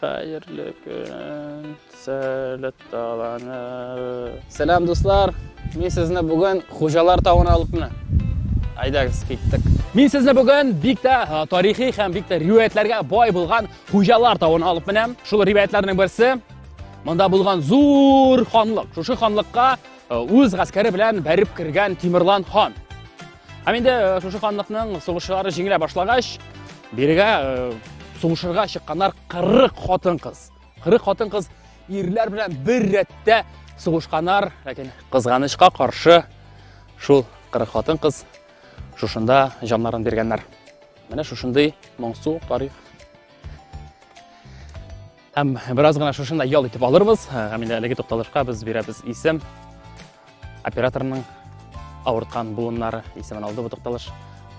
Хәерле көн, сәләт таланы. Сәлам, дуслар. Мин сезне бүген Хуҗалар тавына алып менә. Айдагыз, киттек. Мин сезне бүген бик тә тарихи һәм бик тә риваятларга бай булган Хуҗалар тавына алып менәм. Шул риваятларның берсе монда булган зур ханлык. Шушы ханлыкка үз гаскәре белән бәреп кергән Тимерлан хан. Һәм инде э, шушы ханлыкның сугышлары җиңелә башлагач, бирегә э, сугышырга чыкканнар 40 хатын-кыз. 40 хатын-кыз ирләр белән бер рәттә сугышканнар, ләкин кызганычка каршы шул 40 хатын-кыз шушында җаннарын биргәннәр. Менә шушындый моңсу тарих. Һәм бераз гына шушында ял итеп алырбыз. Һәм инде әлеге тукталышка без бирәбез исем. Операторның авырткан буыннары исемен алды бу тукталыш.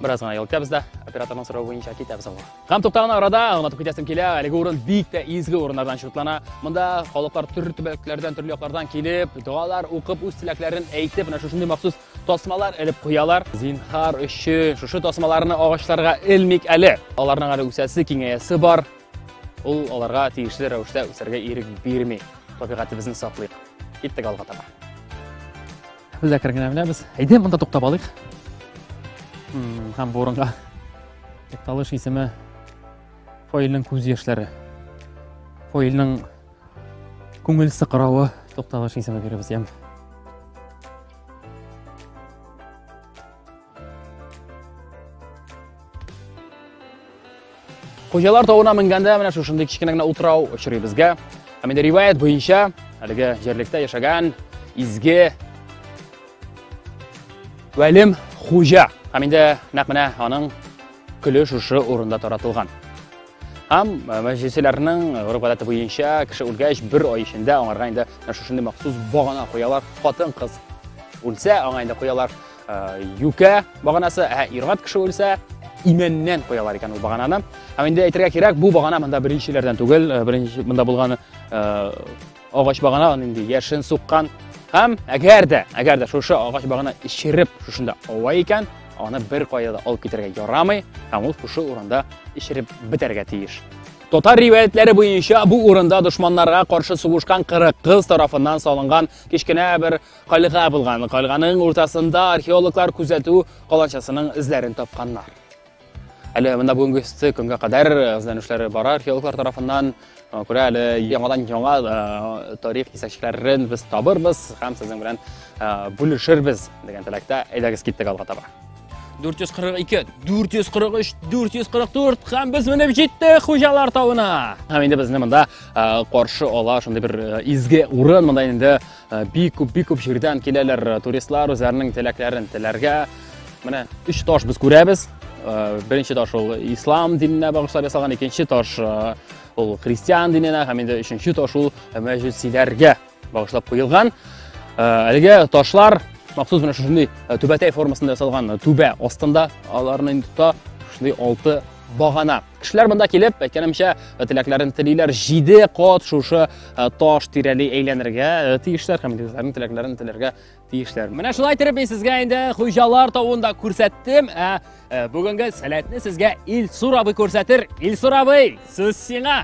Бераз гына ял итәбез дә, операторның сорауы буенча китәбез алга. Һәм тукталган арада аңлатып китәсем килә, әлеге урын бик тә изге урыннардан шутлана. Монда халыклар төрле төбәкләрдән, төрле яклардан килеп, догалар укып, үз теләкләрен әйтеп, менә шушындый махсус тасмалар элеп куялар. Зинһар өчен шушы тасмаларны агачларга элмик әле. Аларның әле үсәсе, киңәясе бар. Ул аларга тиешле рәвештә үсәргә ирек бирми. Табигатебезне саклыйк. Киттек алга таба. Без дә кергән беләбез. Әйдә монда туктап алыйк. Һәм бу урынга тукталыш исеме Фойлның күз яшьләре. Фойлның күңел сыкрауы тукталыш исеме бирәбез ям. Хуҗалар тавына менгәндә менә шушындый кечкенә генә утрау очрый безгә. Ә менә риваять буенча, әлеге җирлектә яшәгән изге Вәлим хуҗа. Һәм инде нәкъ менә аның көле шушы урында таратылган. Һәм э, мәҗлесләрнең э, гореф гадәте буенча кеше үлгәч бер ай эчендә аңарга инде шушындый махсус багана куялар. Хатын-кыз үлсә, аңа инде куялар. юкә баганасы ә иргат кеше үлсә имәннән куялар икән ул багананы һәм инде әйтергә кирәк бу багана монда беренчеләрдән түгел э, беренче монда булган э, агач багана аны инде яшен суккан һәм әгәр дә әгәр дә шушы агач багана эчереп шушында ава икән аны бер кая да алып китәргә ярамый һәм ул шушы урында эчереп бетәргә тиеш Татар ривәятләре буенча бу урында дошманнарга каршы сугышкан 40 кыз тарафыннан салынган кечкенә бер Кальга булган. Кальганың уртасында археологлар күзәтү каланчасының эзләрен тапканнар. Әле монда бүгенге өсте көнгә кадәр эзләнүшләре бара археологлар тарафыннан. Күрә әле яңадан яңа тарих кисәкчәләрен без табырбыз һәм сезнең белән бүлешербез дигән теләктә. Әйдәгез киттек алга таба. 442, 443, 444 һәм без менеп җиттек хуҗалар тавына. Һәм инде безне монда каршы ала шундый бер изге урын. Монда инде Э, бик күп бик күп җирдән киләләр э, туристлар үзләренең теләкләрен теләргә менә өч таш без күрәбез э, беренче таш ул ислам диненә багышлап ясалган икенче таш ул христиан диненә һәм инде өченче таш ул мәҗүсиләргә багышлап куелган әлеге ташлар махсус менә шушындый түбәтәй формасында ясалган түбә астында аларны инде тота шушындый алты багана Кешеләр монда килеп, әйткәнемчә, э, теләкләрен телиләр, җиде кат шушы э, таш тирәли әйләнергә э, тиешләр һәм үзләренең теләкләрен теләргә тиешләр. Менә шулай итеп мин сезгә инде хуҗалар тавын да күрсәттем. Ә бүгенге сәләтне сезгә Илсур абый күрсәтер. Илсур абый, сүз сиңа.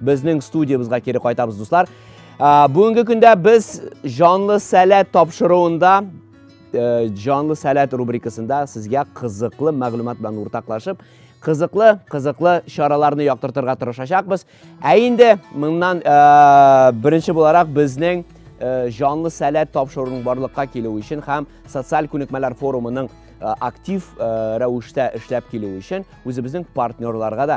Безнең студиябызга кире кайтабыз, дуслар. Бүгенге көндә без җанлы сәләт тапшыруында э, җанлы сәләт рубрикасында сезгә кызыклы мәгълүмат белән уртаклашып, кызыклы, кызыклы чараларны яктыртырга тырышачакбыз. Ә инде моннан э, беренче буларак безнең Э, жанлы сәләт тапшыруының барлыкка килүе өчен һәм социаль күнекмәләр форумының э, актив э, рәвештә эшләп килүе өчен үзебезнең партнерларга да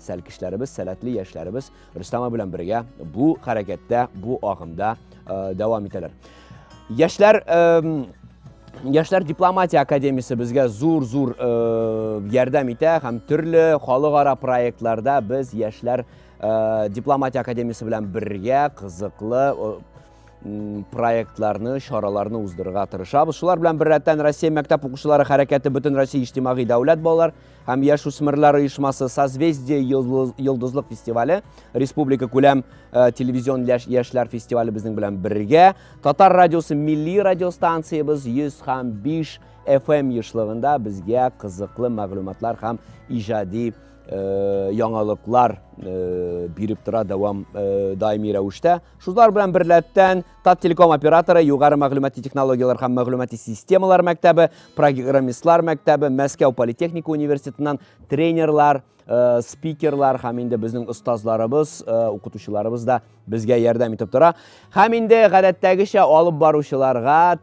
Сәлкешләребез, сәләтле яшьләребез Рөстәм белән бергә бу хәрәкәттә, бу агымда э, дәвам итәләр. Яшьләр э, Яшьләр дипломатия академиясе безгә зур-зур э, ярдәм итә һәм төрле халыкара проектларда без яшьләр э, дипломатия академиясе белән бергә кызыклы э, проектларны, чараларны уздырырга тырышабыз. Шулар белән беррәттән Россия мәктәп укучылары хәрәкәте бөтен Россия иҗтимагый дәүләт балалар һәм яшүсмерләр оешмасы Созвездие йолдызлык фестивале, республика күләм э, телевизион яшьләр фестивале безнең белән бергә, Татар радиосы милли радиостанциябез 100 һәм 5 FM ешлыгында безгә кызыклы мәгълүматлар һәм иҗади э, яңалыклар э, биреп тора дәвам даими рәвештә. Шулар белән берләптән Таттелеком операторы Югары мәгълүмати технологияләр һәм мәгълүмати системалар мәктәбе, программистлар мәктәбе, Мәскәү политехника университетыннан тренерлар, э, спикерлар һәм инде безнең остазларыбыз, э, укытучыларыбыз да безгә ярдәм итеп тора. Һәм инде гадәттәгечә алып баручыларга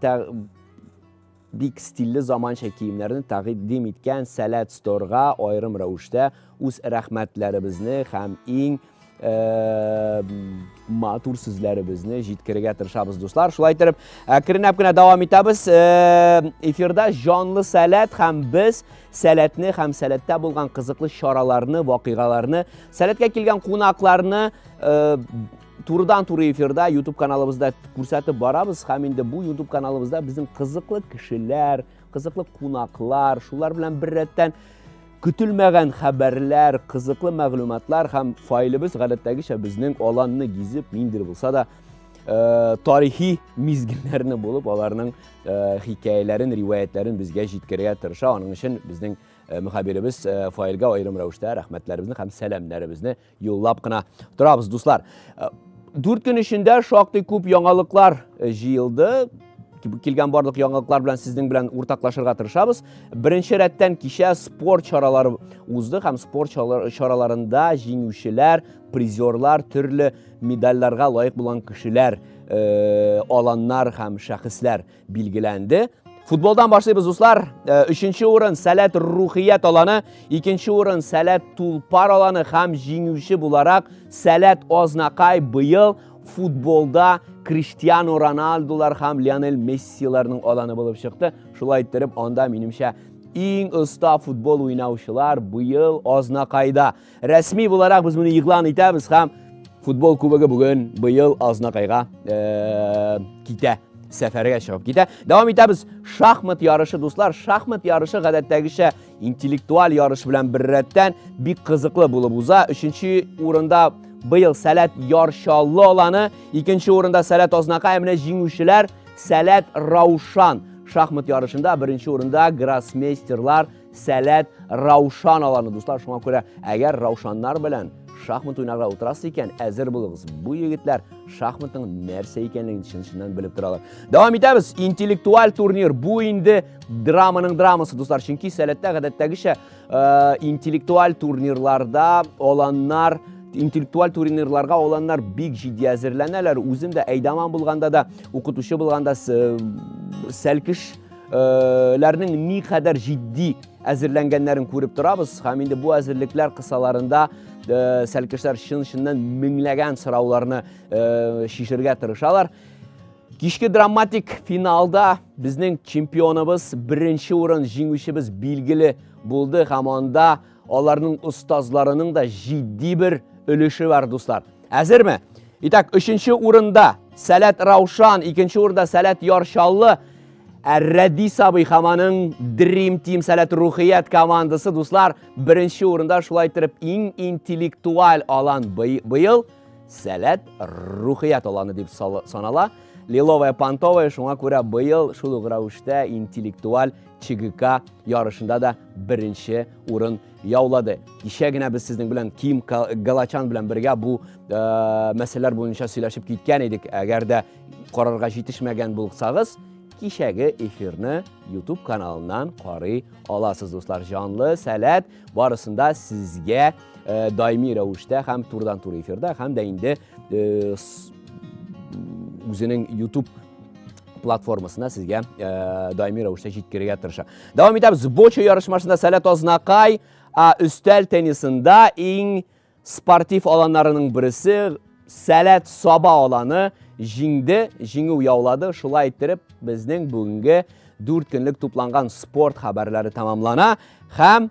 Бик стильле заманча киемнәрне тәкъдим иткән Сәләт Сторга аерым рәвештә үз рәхмәтләребезне һәм иң матур сүзләребезне җиткерергә тырышабыз, дуслар. Шулай итеп, әкренләп кенә дәвам итәбез. Эфирда җанлы сәләт һәм без сәләтне һәм сәләттә булган кызыклы чараларны, вакыйгаларны, сәләткә килгән кунакларны турыдан туры эфирда YouTube каналыбызда күрсәтеп барабыз һәм инде бу YouTube каналыбызда безнең кызыклы кешеләр, кызыклы кунаклар, шулар белән бер рәттән көтелмәгән хәбәрләр, кызыклы мәгълүматлар һәм файлыбыз гадәттәгечә безнең аланны гизеп, ниндер булса да э, тарихи мизгелләрне булып, аларның э, хикәяләрен, риваятларын безгә җиткерергә тырыша. Аның өчен безнең э, мөхәбиребез э, файлга аерым рәвештә рәхмәтләребезне һәм сәламнәребезне Юллап кына торабыз, дуслар. Э, дүрт көн эчендә шактый күп яңалыклар э, җыелды. Килгән барлык яңалыклар белән сезнең белән уртаклашырга тырышабыз. Беренче рәттән кичә спорт чаралары узды һәм спорт чараларында җиңүчеләр, призерлар, төрле медальләргә лаек булган кешеләр, э, аланнар һәм шәхесләр Билгеләнде. Футболдан башлыйбыз, дуслар. Э, өченче урын Сәләт Рухият аланы, икенче урын Сәләт Тулпар аланы һәм җиңүче буларак Сәләт Азнакай быел футболда Криштиану Роналдулар һәм Лионель Мессиларның аланы булып чыкты. Шулай иттереп, анда минемчә иң оста футбол уйнаучылар быел Азнакайда. Рәсми буларак без моны игълан итәбез һәм футбол кубогы бүген быел Азнакайга э, китә сәфәргә чыгып китә. Дәвам итәбез. Шахмат ярышы, дуслар. Шахмат ярышы гадәттәгечә интеллектуаль ярыш белән беррәттән бик кызыклы булып уза. Өченче урында быел Сәләт Яршаллы аланы, икенче урында Сәләт Азнакай, менә җиңүчеләр Сәләт Раушан шахмат ярышында беренче урында гроссмейстерлар Сәләт Раушан аланы, дуслар, шуңа күрә, әгәр Раушаннар белән шахмат уйнарга утырасы икән, әзер булыгыз. Бу егетләр шахматның нәрсә икәнлеген чын-чыннан белеп торалар. Дәвам итәбез. Интеллектуаль турнир. Бу инде драманың драмасы, дуслар. Чөнки сәләттә гадәттәгечә э, интеллектуаль турнирларда аланнар интеллектуаль турнирларга аланнар бик җитди әзерләнәләр. Үзем дә әйдаман булганда да, укытучы булганда э, сәлкеш ләрнең никадәр җитди әзерләнгәннәрен күреп торабыз һәм инде бу әзерлекләр кысаларында сәлкешләр чын-чыннан меңләгән сорауларны чишергә тырышалар. Кичке драматик финалда безнең чемпионыбыз, беренче урын җиңүчебез билгеле булды һәм анда Аларның остазларының да җитди бер өлеше бар, дуслар. Әзерме? Итак, өченче урында Сәләт Раушан, икенче урында Сәләт Яршаллы, ә Рәди Сабый хаманың Dream Team Сәләт Рухият командасы, дуслар, беренче урында шулай итеп иң интеллектуаль алан быел Сәләт Рухият аланы дип санала. Лиловая Пантовая шуңа күрә быел шул ук рәвештә интеллектуаль ЧГК ярышында да беренче урын яулады. Кичә генә без сезнең белән Ким Галачан белән бергә бу э, мәсьәләләр буенча сөйләшеп киткән идек. Әгәр дә карарга җитешмәгән булсагыз, кичәге эфирны YouTube каналыннан карый аласыз, дуслар. Җанлы, сәләт, барысында сезгә э, даими рәвештә һәм турыдан-туры эфирда, һәм дә инде э, үзенең YouTube платформасына сезгә ә, даими рәвештә җиткерергә тырыша. Дәвам итәбез. Бочо ярышмасында Сәләт Азнакай ә, өстәл теннисында иң спортив аланнарының берсе Сәләт Саба аланы җиңде, җиңү яулады. Шулай иттереп, безнең бүгенге 4 көнлек тупланган спорт хәбәрләре тәмамлана һәм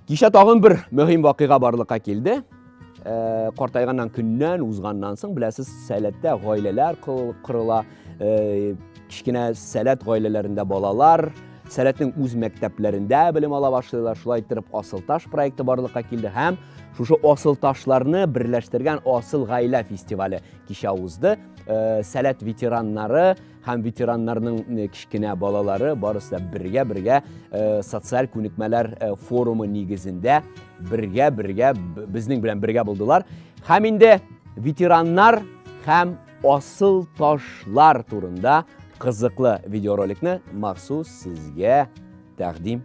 Кичә тагын бер мөһим вакыйга барлыкка килде. Э, картайганнан көннән узганнан соң беләсез сәләттә гаиләләр кырыла э, кечкенә сәләт гаиләләрендә балалар сәләтнең үз мәктәпләрендә белем ала башлыйлар шулай иттереп асыл таш проекты барлыкка килде һәм шушы асыл ташларны берләштергән асыл гаилә фестивале кичә узды э, сәләт ветераннары һәм ветераннарның кечкенә балалары барысы да бергә бергә э, социаль күнекмәләр э, форумы нигезендә бергә бергә безнең белән бергә булдылар һәм инде ветераннар һәм асыл ташлар турында кызыклы видеороликны махсус сезгә тәкъдим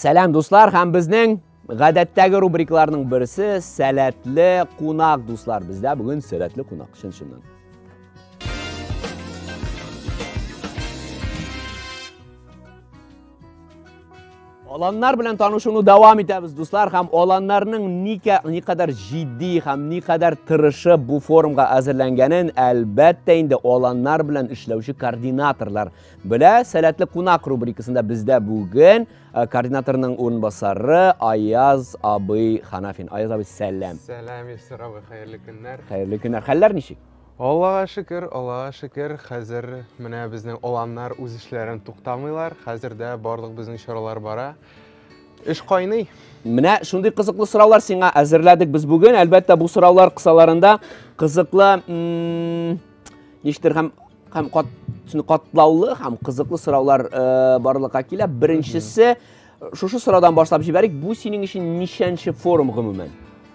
Сәләм дуслар һәм безнең гадәттәге рубрикларның берсе сәләтле кунак дуслар. Бездә бүген сәләтле кунак чын-чыннан. Аланнар белән танышуны дәвам итәбез, дуслар, һәм аланнарның никә никадәр җитди һәм никадәр тырышы бу форумга әзерләнгәнен, әлбәттә инде аланнар белән эшләүче координаторлар белә. Сәләтле кунак рубрикасында бездә бүген э, координаторның урынбасары Аяз абый Ханафин. Аяз абый, сәлам. Сәлам, Ильсур абый, хәерле көннәр. Хәерле көннәр. Хәлләр ничек? Аллага шөкер, Аллага шөкер, хәзер менә безнең аланнар үз эшләрен туктамыйлар, хәзер дә барлык безнең чаралар бара. Эш кайный. Менә шундый кызыклы сораулар сиңа әзерләдек без бүген. Әлбәттә, бу сораулар кысаларында кызыклы ништер һәм һәм кат катлаулы һәм кызыклы сораулар э, барлыкка килә. Беренчесе шушы сораудан башлап җибәрик. Бу синең өчен ничәнче форум гомумән?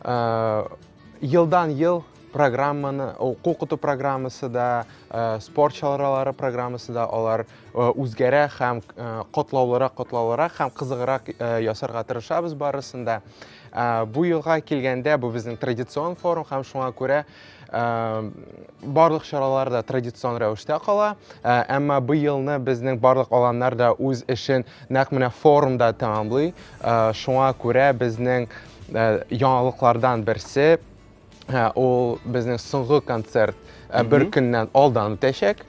Э, елдан ел программаны оқу укыту программасы да э, спорт чаралары программасы да алар э, үзгәрә һәм котлаулырак котлаулырак һәм кызыграк ясарга тырышабыз барысын да бу елга килгәндә бу безнең традицион форум һәм шуңа күрә барлык чаралар да традицион рәвештә кала, әмма быелны безнең барлык аланнар да үз эшен нәкъ менә форумда тәмамлый. Шуңа күрә безнең яңалыклардан берсе ул безнең соңгы концерт бер көннән алдан үтәчәк,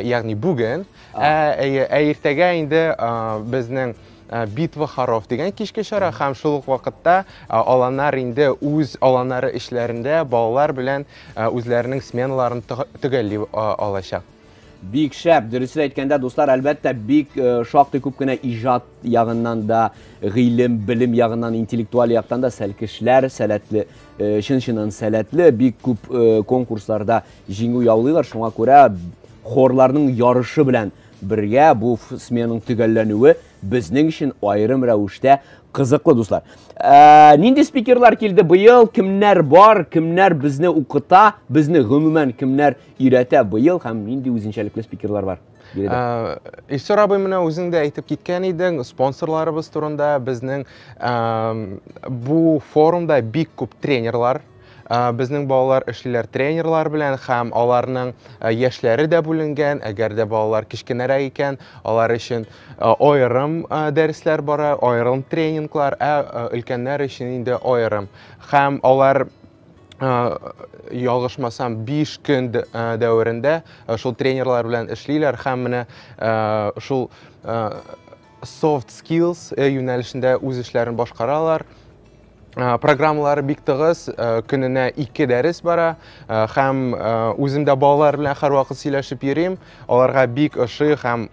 ягъни бүген. Ә иртәгә инде безнең Э, битва хоров дигән кичке чара һәм шул ук вакытта э, аланнар инде үз аланнары эшләрендә балалар белән э, үзләренең сменаларын төгәлли алачак бик шәп дөресен әйткәндә дуслар әлбәттә бик шактый күп кенә иҗат ягыннан да гыйлем белем ягыннан интеллектуаль яктан да сәлкешләр сәләтле чын чыннан сәләтле бик күп конкурсларда җиңү яулыйлар шуңа күрә хорларның ярышы белән Бергә бу сменаның төгәлләнүе безнең өчен аерым рәвештә кызыклы, дуслар. Ә, нинди спикерлар килде быел, кемнәр бар, кемнәр безне укыта, безне гомумән кемнәр өйрәтә быел һәм нинди үзенчәлекле спикерлар бар? Ә, Илсур абый менә үзең дә әйтеп киткән идең, спонсорларыбыз турында безнең бу форумда бик күп тренерлар Ә, Безнең балалар эшлиләр тренерлар белән һәм аларның ә, яшьләре дә бүленгән. Әгәр дә балалар кечкенәрәк икән, алар өчен ә, аерым ә, дәресләр бара, аерым тренинглар, ә ә, өлкәннәр өчен инде аерым. Һәм алар, ә, ялгышмасам, 5 көн д- ә, дәверендә ә, шул тренерлар белән эшлиләр һәм менә ә, шул ә, Soft Skills э, юнәлешендә үз эшләрен башкаралар. Э, программалары бик тыгыз, э, көненә ике дәрес бара һәм үзем дә балалар белән һәрвакыт сөйләшеп йөрим. Аларга бик ошый һәм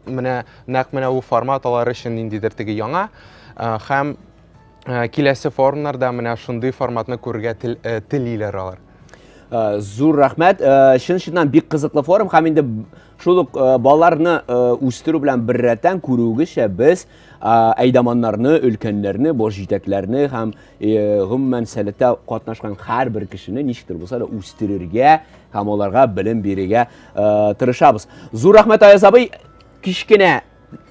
менә нәкъ менә бу формат алар өчен ниндидер теге яңа һәм киләсе форумнарда менә шундый форматны күрергә телиләр алар. Э, зур рәхмәт э, чын чыннан бик кызыклы форум һәм инде Шул ук э, балаларны э, үстерү белән беррәттән күрүегезчә без әйдаманнарны, өлкәннәрне, бош җитәкләрне һәм э, гомумән сәләттә катнашкан һәрбер кешене ничектер булса да үстерергә һәм аларга белем бирергә тырышабыз. Зур рәхмәт Аяз абый, кечкенә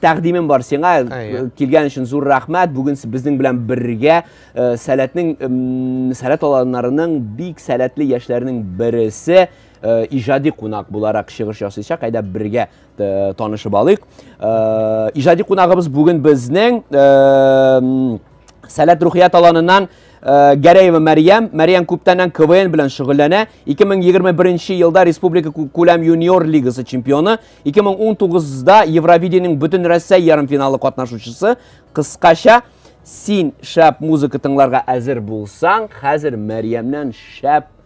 тәкъдимем бар сиңа э, килгән өчен зур рәхмәт бүген безнең белән бергә э, сәләтнең сәләт аланнарының бик сәләтле яшьләренең бересе Э, ижади кунак буларак чыгыш ясыйчак әйдә бергә э, танышып алыйк э, ижади кунагыбыз бүген безнең сәләт рухият аланынан Гәрәева Мәрьям, Мәрьям күптәннән КВН белән шөгыльләнә. 2021 елда республика күләм юниор лигасы чемпионы, 2019-да Евровидениенең бөтен Россия ярымфиналы катнашучысы. Кыскача, син шәп музыка тыңларга әзер булсаң, хәзер Мәрьямнән шәп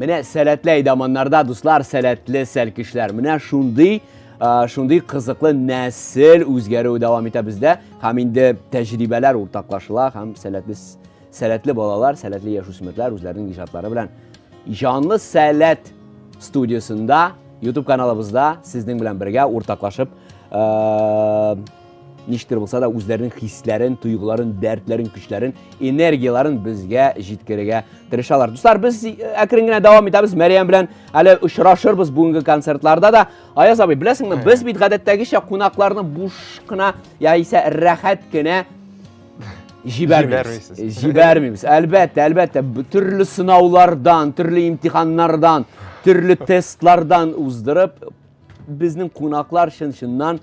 Менә сәләтле әйдаманнарда, дуслар, сәләтле сәлкешләр. Менә шундый шундый кызыклы нәсел үзгәрүе дәвам итә бездә һәм инде тәҗрибәләр уртаклашыла һәм сәләтле сәләтле балалар, сәләтле яшүсмерләр үзләренең иҗатлары белән Җанлы сәләт студиясендә YouTube каналыбызда сезнең белән бергә уртаклашып Ничектер булса да үзләренең хисләрен, тойгыларын, дәртләрен, көчләрен, энергияләрен безгә җиткерергә тырышалар. Дуслар, без э, әкрен генә дәвам итәбез. Мәрьям белән әле очрашырбыз бүгенге концертларда да. Аяз абый, беләсеңме, без бит гадәттәгечә кунакларны буш кына яисә рәхәт кенә җибәрмибез. Җибәрмибез. Әлбәттә, әлбәттә, төрле сынаулардан, төрле имтиханнардан, төрле тестлардан уздырып, безнең кунаклар чын-чыннан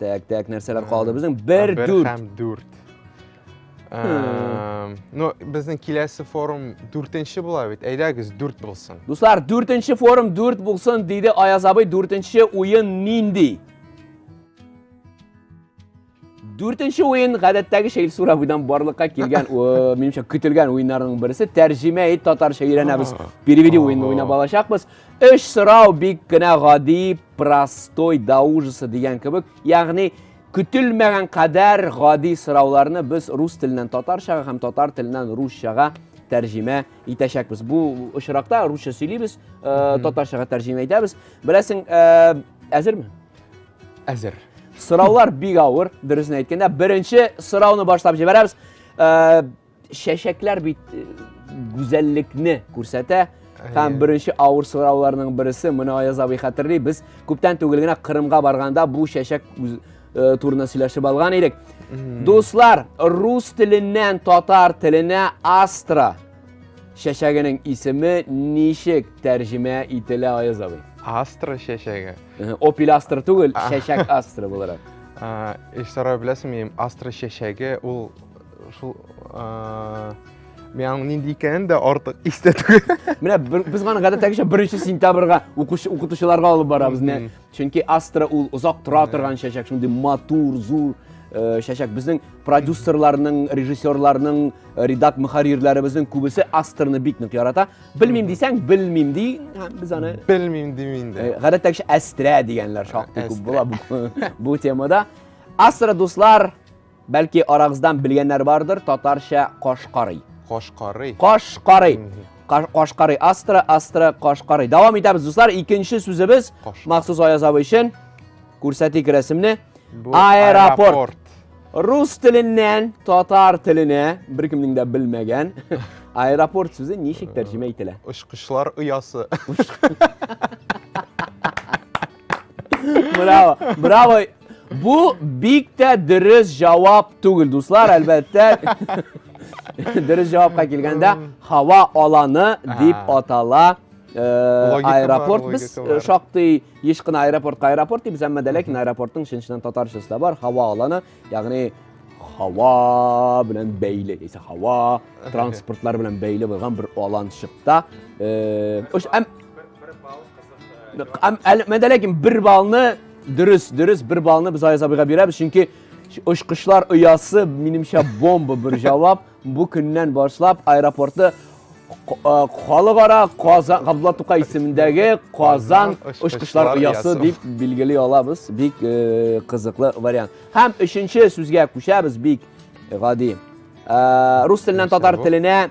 Так, так, нәрсәләр калды безнең? Бер дүрт. Һәм дүрт. Э, ну, безнең киләсе форум дүртенче була бит. Әйдәгез, дүрт булсын. Дуслар, дүртенче форум дүрт булсын, диде Аяз абый. Дүртенче уен нинди? Дүртенче уен гадәттәге шәйл сурабыйдан барлыкка килгән, минемчә, көтелгән уеннарның берсе. Тәрҗемә ит татарча өйрәнәбез. Переведи уенны уйнап алачакбыз. Өч сорау бик кенә гади, простой до ужаса дигән кебек, ягъни көтелмәгән кадәр гади сорауларны без рус теленнән татарчага һәм татар теленнән русчага тәрҗемә итәчәкбез. Бу очракта русча сөйлибез, э, татарчага тәрҗемә итәбез. Беләсең, э, әзерме? Әзер. Сораулар бик авыр, дөресен әйткәндә. Беренче сорауны башлап җибәрәбез. Э, чәчәкләр бит э, гүзәллекне күрсәтә һәм беренче авыр сорауларның бересе моны аяз абый хәтерли без күптән түгел генә кырымга барганда бу чәчәк э, турында сөйләшеп алган идек дуслар рус теленнән татар теленә астра чәчәгенең исеме ничек тәрҗемә ителә аяз абый астра чәчәге опель астра түгел чәчәк астра буларак Ишсарай беләсеңме, астра чәчәге ул Шул Мен аның нинди икәнен дә артык истә түгел. Менә без гана гадәттәгечә 1 сентябрьгә укучы укытучыларга алып барабыз. Менә чөнки Астра ул озак тора торган чәчәк, шундый матур, зур чәчәк. Э, Безнең продюсерларның, режиссерларның, э, редак мөхәррирләребезнең күбесе Астрны бик нык ярата. Белмим дисәң, белмим ди. Без аны белмим дим инде. Э, гадәттәгечә Астрә дигәннәр шактый күп була бу темада. Астра дуслар, Бәлки арагыздан белгәннәр бардыр, татарча кашкарый. Кашкарый. Кашкарый. Кашкарый. Астра, астра, кашкарый. Дәвам итәбез, дуслар. Икенче сүзебез махсус Аяз абый өчен. Күрсәтик рәсемне. Аэропорт. Рус теленнән татар теленә беркемнең дә белмәгән аэропорт сүзе ничек тәрҗемә ителә? Очкычлар оясы. Браво, браво. Бу бик тә дөрес җавап түгел, дуслар, әлбәттә. Дөрес җавапка килгәндә, һава аланы дип атала. Э, аэропорт без э, шактый еш кына аэропортка аэропорт дибез әмма дә ләкин аэропорттың чын чыннан татарчасы да бар һава аланы Ягъни һава белән бәйле, яисә һава транспортлары белән бәйле булган бер аланчыкта. Э, Өч әм Әм әле мен ләкин бер балны дөрес, дөрес бер балны без Айзабыга бирәбез, чөнки очкычлар оясы минемчә бомба бер җавап. Бу көннән башлап аэропорты халыкара Казан Габдулла Тукай исемендәге Казан очкычлар оясы дип билгели алабыз. Бик кызыклы вариант. Һәм өченче сүзгә күчәбез бик гади. Рус теленнән татар теленә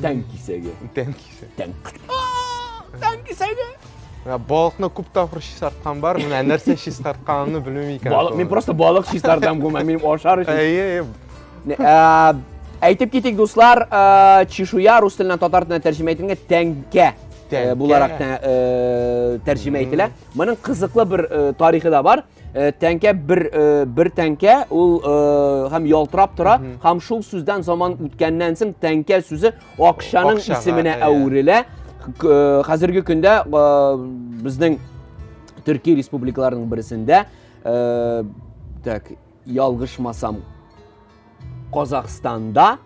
Тән кисәге. Тән кисәге. Тән. Тән кисәге. Ә балыкны күп тапкыр чистарткан бар, менә нәрсә чистартканымны белмим икән. Балык, мин просто балык чистартам гомумән, минем ашар өчен. Әйе, әйе. Әйтеп китик, дуслар, чешуя рус теленнән татар теленә тәрҗемә ителгән тәңкә буларак тәрҗемә ителә. Моның кызыклы бер тарихы да бар. Э, тәңкә бер э, бер тәңкә ул э, һәм ялтырап тора һәм шул сүздән заман үткәннән соң тәңкә сүзе акчаның исеменә әверелә хәзерге көндә безнең төрки республикаларының берсендә так ялгышмасам Казахстанда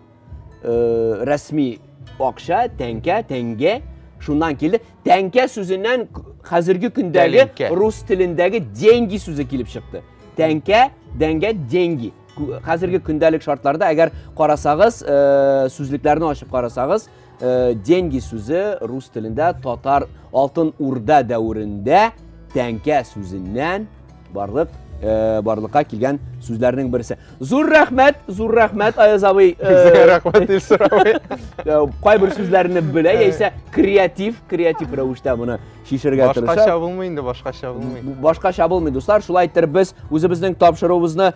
рәсми акча, тәңкә, тәңге шуннан килде. Тәңкә сүзеннән хәзерге көндәге рус телендәге деньги сүзе килеп чыкты. Тәңкә, дәңгә, деньги. Хәзерге көндәлек шартларда әгәр карасагыз, сүзлекләрне ачып карасагыз, Э, деньги сүзе рус телендә татар алтын урда дәверендә тәңкә сүзеннән барлык э, барлыкка килгән сүзләрнең берсе. Зур рәхмәт, зур рәхмәт Аяз абый. Э, Сезгә рәхмәт Илсур абый. Кайбер сүзләрне белә яисә креатив, креатив рәвештә моны шишергә тырыша. Башкача булмый инде, башкача булмый. Башкача булмый, дуслар. Шулай иттереп без үзебезнең тапшыруыбызны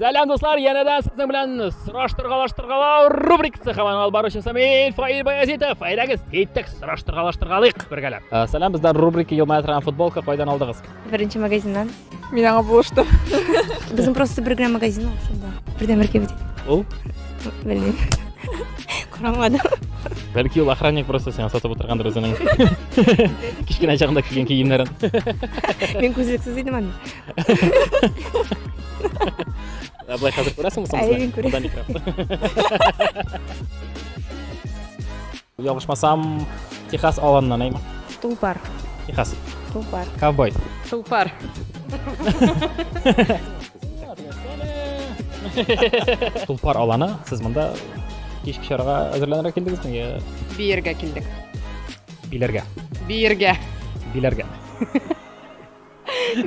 Сәлам дуслар, янәдән сезнең белән сораштыргалаштыргалау рубрикасы һәм алып баручысы мин Фаил Баязитов. Әйдәгез, киттек, сораштыргалаштыргалыйк бергәләп. Э, сәлам, бездә рубрика Елмая торган футболка кайдан алдыгыз? Беренче магазиннан. Мин аңа булыштым. Безнең просто бер генә магазин ул шунда. Бердән бер кебек. Ул? Белмим. Карамадым. Бәлки ул охранник просто сиңа сатып утыргандыр үзенең кечкенә чагында кигән киемнәрен. Мин күзлексез идем аны. былай хәзер күрәсең соң әйе күрәм ялгышмасам техас аланнан әйме тулпар техас тулпар ковбой тулпар тулпар аланы сіз мында кешке чараға әзерләнергә килдегезме я биергә килдек биләргә биергә биләргә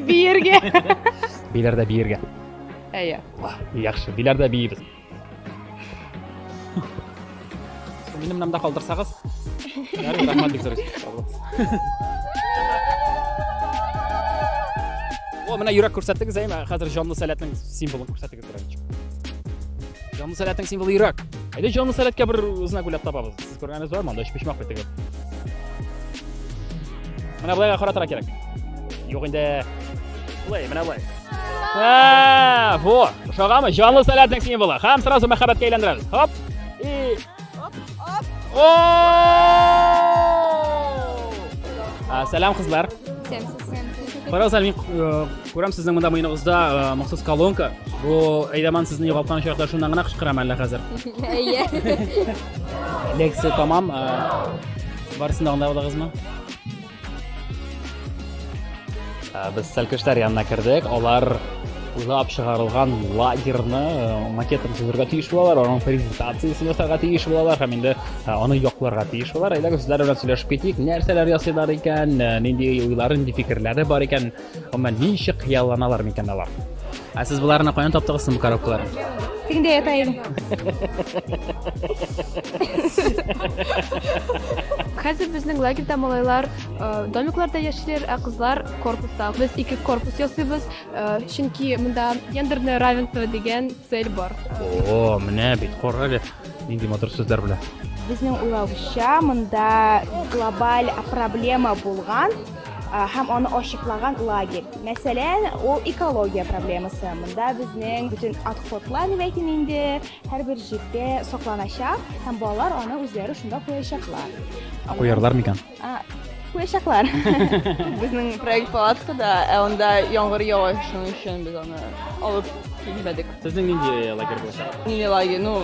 Биергә. Биләр дә биергә. Әйе. Яхшы, биләр дә биебез. Минем намда калдырсагыз. Ярый, рәхмәт бик зур. О, менә йөрәк күрсәттегез, әйме? Хәзер җанлы сәләтнең символын күрсәттегез. Петранчик. Җанлы сәләтнең символы йөрәк. Әйдә җанлы сәләткә бер знак уйлап табабыз. Сез күргәнегез бармы анда өчпочмак бит теге? Менә болайга каратырга кирәк. Юк инде. Болай, менә болай. Ә, во, ошагамы? Җанлы сәләтнең символы. Һәм сразу мәхәббәткә әйләндерәбез. Хоп. И Сәлам кызлар. Фараз Сәлмин, күрәм сезнең монда мыйныгызда махсус колонка. Бу әйдәман сезне югалткан чакта шуннан гына кычкырам әллә хәзер. Әйе. Лекция тамам. Барсын да аңладыгызмы? Ә, без сәлкештәр янына кердек алар уйлап чыгарылган лагерьны э, макетын төзергә тиеш булалар аның презентациясен ясарга тиеш булалар һәм инде э, аны якларга тиеш булалар әйдәгез сезләр белән сөйләшеп китик нәрсәләр ясыйлар икән э, нинди уйлары нинди фикерләре бар икән Гомумән, ничек хыялланалар микән алар? Ә сез боларны каян таптыгыз соң бу коробкаларны? Тегендә ята идем. Хәзер безнең лагерьда малайлар э, домикларда яшиләр, ә кызлар корпуста. Без ике корпус ясыйбыз, э, чөнки монда гендерное равенство дигән цель бар. О, менә бит, кара әле. Нинди матур сүзләр белән. Безнең уйлавыча, монда глобаль проблема булган һәм аны ачыклаган лагерь. Мәсәлән, ул экология проблемасы. Монда безнең бүтән отходлар дип әйтим инде, һәрбер җирдә сакланачак һәм балалар аны үзләре шунда куячаклар. Куярлар микән? Куячаклар. Безнең проект палатка да, ә анда яңгыр ява, шуның өчен без аны алып килмәдек. Сезнең нинди лагерь булачак? Нинди лагерь? Ну,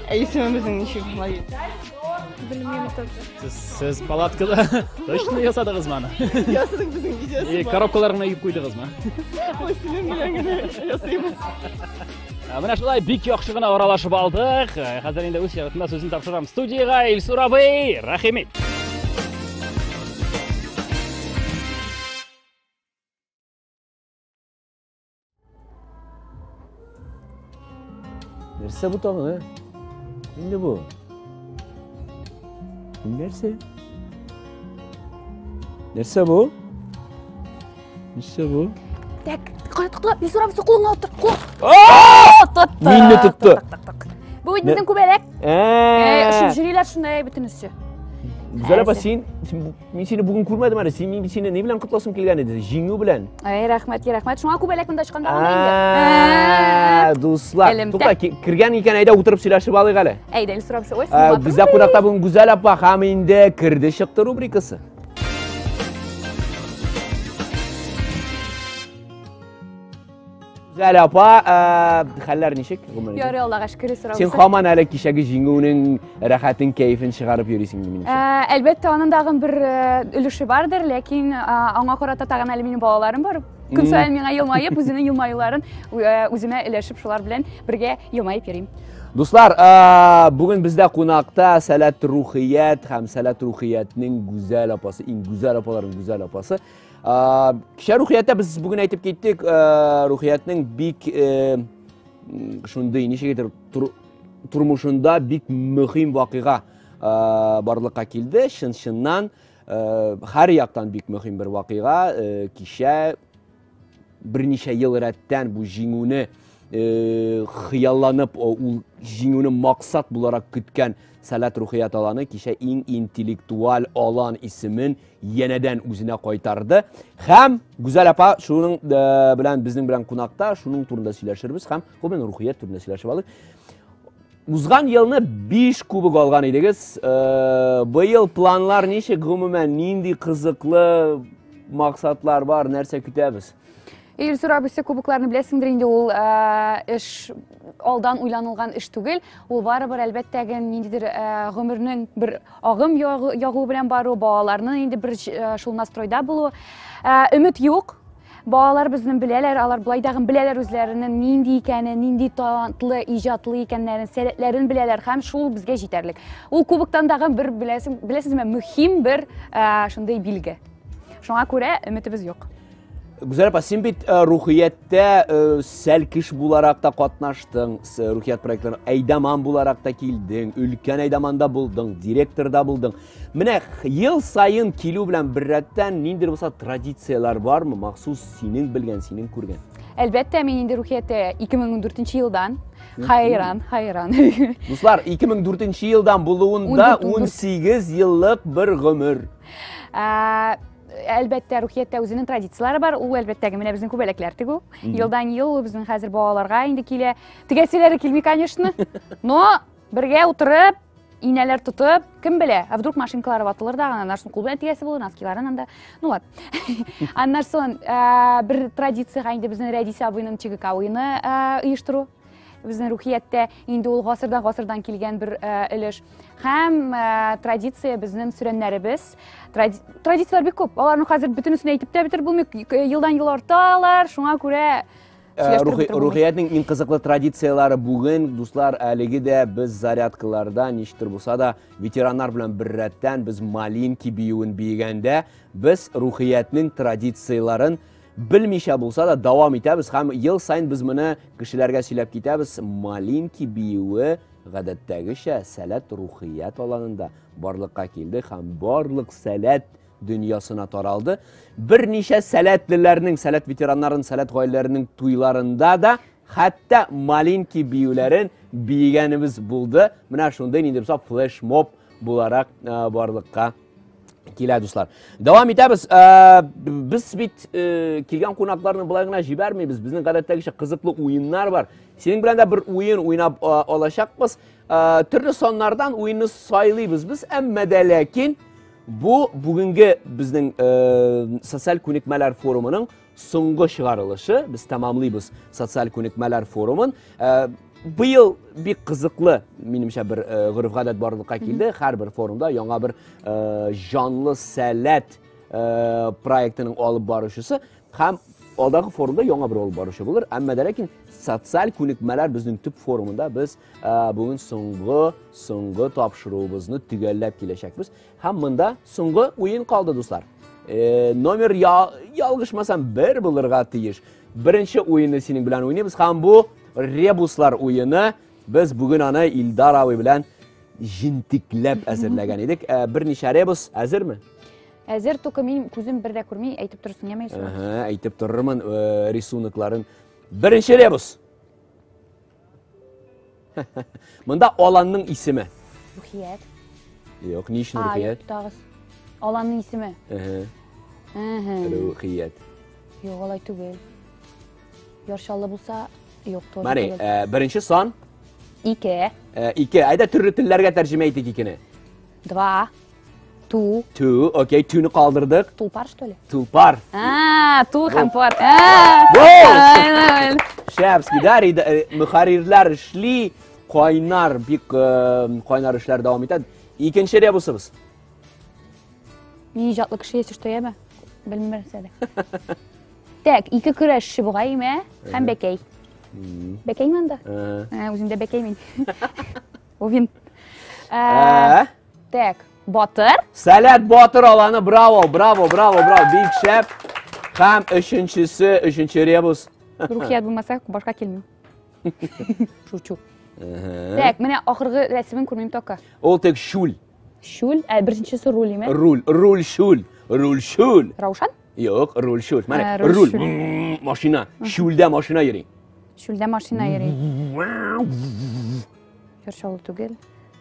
әйсемебезнең ничек лагерь? Белмим, тот. Сез, сез палаткада точно ясадыгыз маны? Ясадык безнең видеосы. И коробкалар гына юып куйдыгыз ма? Ой, синең белән генә ясыйбыз. Ә менә шулай бик яхшы гына аралашып алдык. Хәзер инде үз чиратында сүзен тапшырам студиягә Илсур абый, рәхимит. Нәрсә бу тагын, ә? Инде бу. Нәрсә? Нәрсә бу? Нәрсә бу? Так, кая тукла, не сорап соклыңа утыр. О, тот. Минне тотты. Бу бит безнең күбәләк. Э, шундый шунда бөтенесе. Зәләбә син, син Мин сине бүген күрмәдем әле. Син мин сине ни белән котласым килгән иде? Җиңү белән. Әй, рәхмәт, рәхмәт. Шуңа күбәләк монда чыкканда гына инде. Дуслар, Элемтә. тукта, кергән икән, әйдә утырып сөйләшеп алыйк әле. Әйдә, ил сорап шугай. Бездә кунакта бүген Гүзәл апа һәм инде керде чыкты рубрикасы. Зәлә апа, э, хәлләр ничек гомердә? Ярый Аллага шөкер сорау. Син хаман әле кичәге җиңүнең рәхәтен, кәефен чыгарып йөрисең ди минемчә. Э, әлбәттә, аның тагы бер э, өлеше бардыр, ләкин аңа карата тагы әле минем балаларым бар. Көн саен миңа елмаеп, үзенең елмаюларын үземә өләшеп, шулар белән бергә елмаеп йөрим. Дуслар, бүген бездә кунакта Сәләт Рухият һәм Сәләт Рухиятнең гүзәл апасы, иң гүзәл апаларның гүзәл апасы Кичә рухиятта без бүген әйтеп киттек, рухиятнең бик шундый ничек әйтер тормышында бик мөһим вакыйга барлыкка килде. Чын-чыннан һәр яктан бик мөһим бер вакыйга. Кичә берничә ел рәттән бу җиңүне хыялланып, ул җиңүне максат буларак көткән Сәләт рухият аланы кичә иң интеллектуаль алан исемен янәдән үзенә кайтарды һәм гүзәл апа шуның э, белән безнең белән кунакта шуның турында сөйләшербез һәм гомумән рухият турында сөйләшеп алдык узган елны биш кубок алган идегез э, быел планлар ничек гомумән нинди кызыклы максатлар бар нәрсә көтәбез Ир сорап үсте кубокларны беләсеңдер инде ул э, эш алдан уйланылган эш түгел. Ул барыбер әлбәттә генә ниндидер э, гомернең бер агым ягу белән бару, балаларның инде бер э, шул настройда булу. Өмет юк. Балалар безнең беләләр, алар былай дагы беләләр үзләренең нинди икәнен, нинди талантлы, иҗатлы икәннәрен, сәләтләрен беләләр һәм шул безгә җитәрлек. Ул кубоктан дагы бер беләсең, беләсезме, мөһим бер шундый билге. Шуңа күрә өметебез юк. Гүзәл апа, син бит э, рухияттә э, сәлкеш буларак та катнаштың, рухият проектларына әйдаман буларак та килдең, өлкән әйдаманда булдың, директорда булдың. Менә ел сайын килү белән беррәттән ниндидер булса традицияләр бармы, махсус синең белгән, синең күргән? Әлбәттә, мин инде рухияттә 2014 елдан Хайран, хайран. Дуслар, 2004 елдан булуында 18 еллык бер гомер. Ә, әлбәттә рухияттә үзенең традицияләре бар ул әлбәттәге менә безнең күбәләкләр тегү елдан ел безнең хәзер балаларга инде килә тегәселәре килми конечно но бергә утырып инәләр тотып кем белә а вдруг машинкалары ватылыр да аннан соң кул белән тигәсе булыр носкиларын анда ну вот аннан соң э, бер традицияга инде безнең рәдис абыйның чигек авыйны э, оештыру безнең рухияттә инде ул гасырдан гасырдан килгән бер э, өлеш һәм э, традиция безнең сүрәннәребез традицияләр бик күп аларның хәзер бөтенесен әйтеп тә бетереп булмый э, елдан ел арталар шуңа күрә э, рухиятнең иң кызыклы традицияләре бүген дуслар әлеге дә без зарядкаларда ничектер булса да ветераннар белән беррәттән без малинки биюен биегәндә без рухиятнең традицияләрен белмичә булса да дәвам итәбез һәм ел сайын без моны кешеләргә сөйләп китәбез малинки биюе Гадәттәгечә, сәләт рухият аланында барлыкка килде һәм барлык сәләт дөньясына таралды. Берничә сәләтлеләрнең, сәләт ветераннарын, сәләт гаиләләренең туйларында да хәтта малинки биюләрен биегәнебез булды. Менә шундый ниндибса флешмоб буларак барлыкка килә дуслар дәвам итәбез ә, без бит ә, килгән кунакларны болай гына җибәрмибез безнең гадәттәгечә кызыклы уеннар бар синең белән дә бер уен уйнап ә, алачакбыз ә, төрле саннардан уенны сайлыйбыз без әмма дә ләкин бу бүгенге безнең ә, социаль күнекмәләр форумының Соңгы чыгарылышы, без тәмамлыйбыз социаль күнекмәләр форумын. Э, быел бик кызыклы, минемчә, бер э, гореф-гадәт барлыкка килде. Һәрбер форумда яңа бер э, җанлы сәләт проектының алып баручысы һәм алдағы форумда яңа бер алып баручы булыр. Әмма дә ләкин социаль күнекмәләр безнең төп форумында без бүгін соңгы соңгы тапшыруыбызны төгәлләп киләчәкбез. Һәм монда соңгы уен калды, дуслар. Э, номер я, ялгышмасам бер булырга тиеш. Беренче уенны синең белән уйнабыз һәм бу ребуслар уены. Без бүген аны Илдар абый белән җентекләп әзерләгән идек. Э, берничә ребус әзерме? Әзер только мин күзем бер дә күрми, әйтеп торсын, яме Юсуф. Әйтеп торырмын э, рисункларын. Беренче ребус. Монда аланның исеме. Рухият. Юк, ни өчен рухият? Тагыз. Аланның исеме. Рухият. Юк, алай түгел. Яршаллы булса, юк, тоже. Мәри, э, беренче сан? Ике. Э, ике. Айда төрле телләргә тәрҗемә итик икене. Два. Ту. Ту, окей, туны калдырдык. Тулпар, что ли? Тулпар. А, ту һәм пар. Шәпски, да, э, мөхәррирләр эшли, кайнар, бик э, кайнар эшләр дәвам итә. Икенче ребусыбыз. Ни иҗатлы кеше ясеш тояме? Белмәм сәдә. Так, ике көрәшче бугай имә һәм бәкәй. Бәкәй монда? Ә, үзендә бәкәй мин. Овин. Ә, Так, батыр. Сәләт батыр аланы, браво, браво, браво, браво, бик шәп. Һәм өченчесе, өченче ребус. Рухият булмаса, башка килмим. Шучу. Так, менә ахыргы рәсемен күрмим тока. Ул тек шул. Шул, ә беренчесе руль име? Руль, руль шул, руль шул. Раушан? Юк, руль шул. Менә руль, машина, шулда машина йөри. Шулда машина йөри. Яршалы түгел.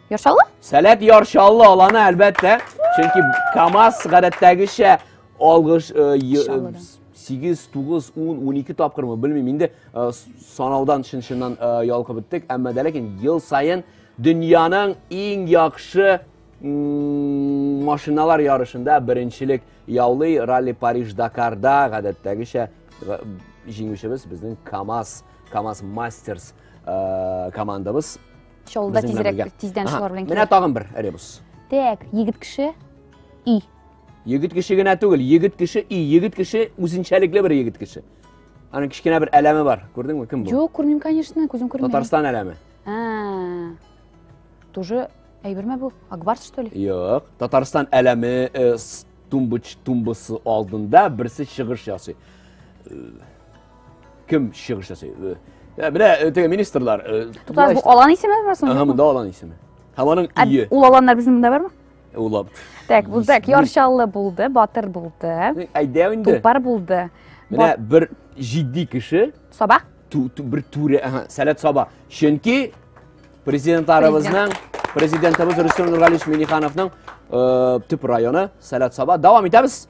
Яршалы? Сәләт яршалы аланы әлбәттә. Чөнки КАМАЗ гадәттәгечә алгыш 8, 9, 10, 12 тапкырмы, белмим, инде э, санаудан шын-шыннан э, ялкып беттек, әмма дә ләкин ел сайын дөньяның иң яхшы машиналар ярышында беренчелек яулый ралли Париж Дакарда гадәттәгечә җиңүчебез безнең КАМАЗ, КАМАЗ Мастерс э, командабыз шул да тизрәк тиздән шулар белән менә тагын бер ребус так егет кеше и егет кеше генә түгел егет кеше и егет кеше үзенчәлекле бер егет кеше аның кечкенә бер әләме бар күрдеңме кем бу жоқ күрмим конечно күзем күрмей татарстан әләме тоже әйбер ме бұл акбарс что ли жоқ татарстан әләме э, тумбыч тумбысы алдында бірсі шығыш жасай э, Кем чыгыш ясый? Ә, менә э, теге министрлар. э, Туктагыз, бу алан исеме бар Ага, соң? монда алан исеме. Һәм аның Ә ие. Ул аланнар безнең монда бармы? Улап. Так, бу так, Исеме. яршаллы булды, батыр булды, Әйдә инде. тупар булды. Менә бер җитди кеше, Саба? ту- ту- бер түрә, ага, Сәләт Саба. Чөнки президентларыбызның, президентыбыз Рөстәм Нургалиевич Минихановның э, төп районы Сәләт Саба. Дәвам итәбез.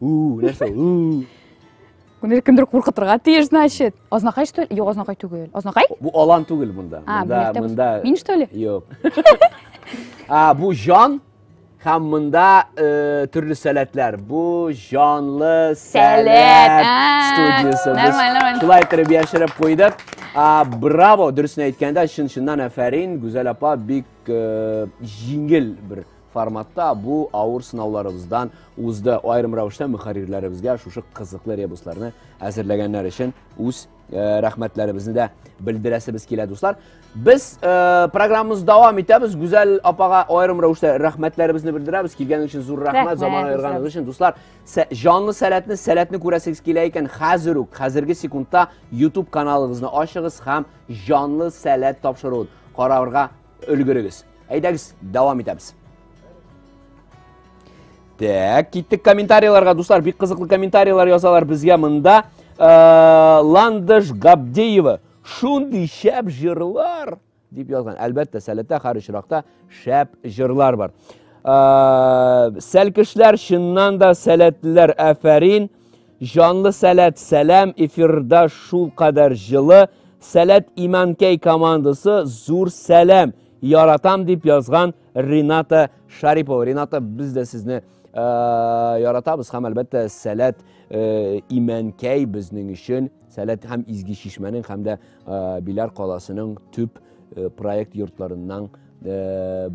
Ү, нәрсә ул? Ү. Күне кемдер куркытырга тиеш, значит. Азнакай что ли? Юк, азнакай түгел. Азнакай? Бу алан түгел монда. А, монда, бу монда. Мин что ли? Юк. А, бу җан һәм монда э, төрле сәләтләр. Бу җанлы сәләт студиясе. Нормально, нормально. Шулай итеп яшереп куйдык. А, браво, дөресен әйткәндә, чын-чыннан әфәрин, Гүзәл апа бик э, җиңел бер форматта бу авыр сынауларыбыздан узды. Аерым рәвештә мөхәррирләребезгә шушы кызыклы ребусларны әзерләгәннәр өчен үз э, рәхмәтләребезне дә белдерәсебез килә, дуслар. Без э, программабызны дәвам итәбез. Гүзәл апага аерым рәвештә рәхмәтләребезне белдерәбез. Килгәнегез өчен зур рәхмәт, рәхмәт заман аерганыгыз өчен. Дуслар, җанлы сәләтне, сәләтне күрәсегез килә икән, хәзер үк, хәзерге секундта YouTube каналыгызны ачыгыз һәм җанлы сәләт тапшыруын карарга Өлгерегез. Әйдәгез, дәвам итәбез. Так, киттек комментарийларга, дуслар, бик кызыклы комментарийлар язалар безгә монда. Э, Ландыш Габдеева шундый шәп җырлар дип язган. Әлбәттә, сәләтә һәр очракта шәп җырлар бар. Э, Сәлкешләр чыннан да сәләтлеләр, әфәрин. Җанлы сәләт сәлам эфирда шул кадәр җылы сәләт иманкәй командасы зур сәлам яратам дип язган Рената Шарипова Рената без дә сезне Э, яратабыз һәм әлбәттә сәләт э, имәнкәй безнең өчен сәләт һәм изге чишмәнең һәм дә э, Биләр каласының төп проект йортларыннан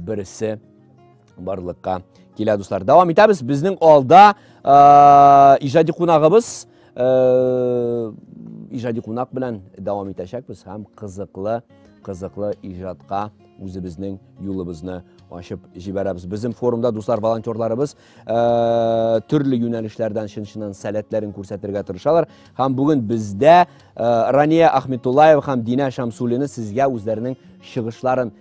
берсе барлыкка килә дуслар дәвам итәбез безнең алда иҗади кунагыбыз иҗади кунак белән дәвам итәчәкбез һәм кызыклы кызыклы иҗатка үзебезнең юлыбызны ачып җибәрәбез безнең форумда дуслар волонтерларыбыз ә, төрле юнәлешләрдән чын чыннан сәләтләрен күрсәтергә тырышалар һәм бүген бездә ә, рания ахметуллаева һәм динә шамсуллина сезгә үзләренең чыгышларын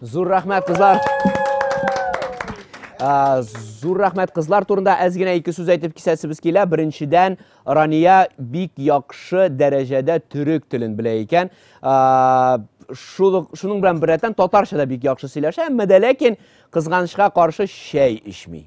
Зур рәхмәт, кызлар! Зур рәхмәт кызлар турында әз генә ике сүз әйтеп кисәсебез килә. Беренчедән, Рания бик яхшы дәрәҗәдә төрек телен белә икән. Шуның белән беррәттән татарча да бик яхшы сөйләшә, әмма дә ләкин кызганычка каршы чәй эчми.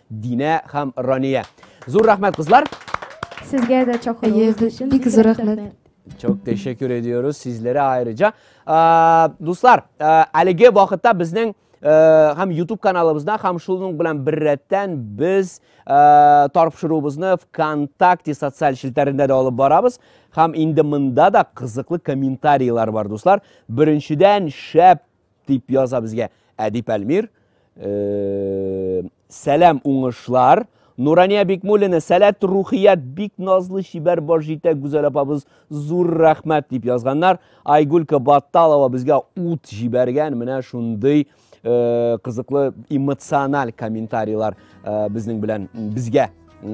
Динә һәм Рания. Зур рәхмәт, кызлар. Сезгә дә чакыруыгыз өчен бик зур рәхмәт. Çok teşekkür ediyoruz sizlere ayrıca. Ee, dostlar, e, әлеге вакытта безнең һәм YouTube каналыбызда һәм шуның белән беррәттән без тарпшыруыбызны ВКонтакте социаль челтәрендә дә алып барабыз. Һәм инде монда да кызыклы комментарийлар бар, дуслар. Беренчедән, шәп Дип яза безгә Әдип Әлмир. Э, сәлам уңышлар. Нурания Бикмулина, сәләт рухият, бик назлы чибәр бар җитә Гүзәл апабыз, зур рәхмәт дип язганнар. Айгулька Батталова безгә ут җибәргән, менә шундый э, кызыклы эмоциональ комментарийлар э, безнең белән безгә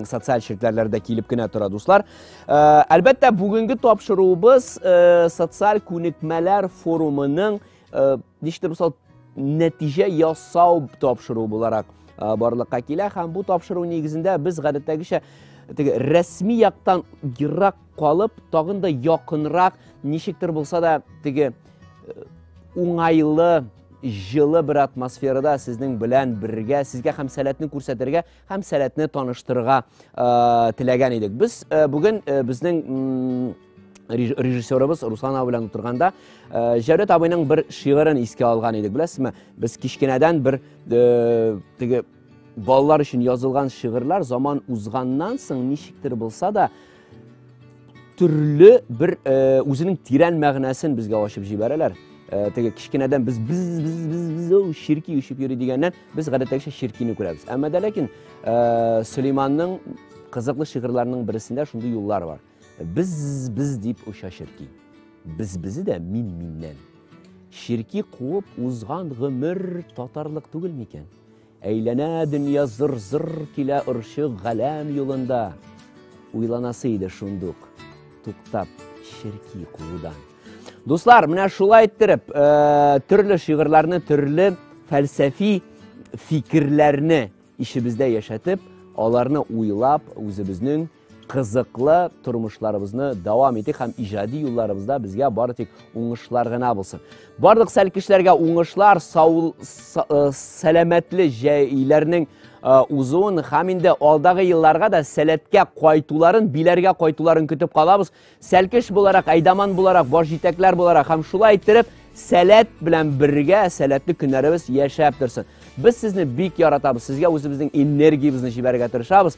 социаль челтәрләрдә килеп кенә тора дуслар э, әлбәттә бүгенге тапшыруыбыз э, социаль күнекмәләр форумының э, ничектер булса нәтиҗә ясау тапшыруы буларак барлыкка килә һәм бу тапшыру нигезендә без гадәттәгечә теге рәсми яктан ерак калып тагын да якынрак ничектер булса да теге уңайлы жылы бер атмосферада сезнең белән бергә сезгә һәм сәләтне күрсәтергә һәм сәләтне таныштырырга теләгән идек. Без бүген безнең режиссерыбыз Руслан абый белән утырганда Җәүдәт абыйның бер шигырен искә алган идек. Беләсезме, без кичкенәдән бер теге балалар өчен язылган шигырьләр заман узганнан соң ничектер булса да Төрле бер үзенең тирән мәгънәсен безгә ачып җибәрәләр. Теге кичкенәдән без без без без без ширки үчеп йөри дигәннән без гадәттәгечә ширкине күрәбез. Әмма дә ләкин Сөлейманның кызыклы шигырьләренең берсендә шундый юллар бар. Без без дип оча ширки. Без бизе дә мин миннән. Ширки куып узган гомер татарлык түгел микән? Әйләнә дөнья зыр-зыр килә орчык галәм юлында Уйланасы иде шундук туктап черки куудан Дуслар, менә шулай иттереп, э, төрле шигырьләрне, төрле фәлсәфи фикерләрне ишебездә яшәтеп, аларны уйлап, үзебезнең кызыклы тормышларыбызны дәвам итик һәм иҗади юлларыбызда безгә бары тик уңышлар гына булсын. Барлык сәл кешеләргә уңышлар, сау, э, сәламәтле җәйләрнең э, узуын һәм инде алдагы елларга да сәләткә кайтуларын, биләргә кайтуларын көтеп калабыз. Сәлкеш буларак, әйдаман буларак, баш җитәкләр буларак һәм шулай иттереп сәләт белән бергә сәләтле көннәребез яшәп торсын. Без сезне бик яратабыз. Сезгә үзебезнең энергиябезне җибәрергә тырышабыз.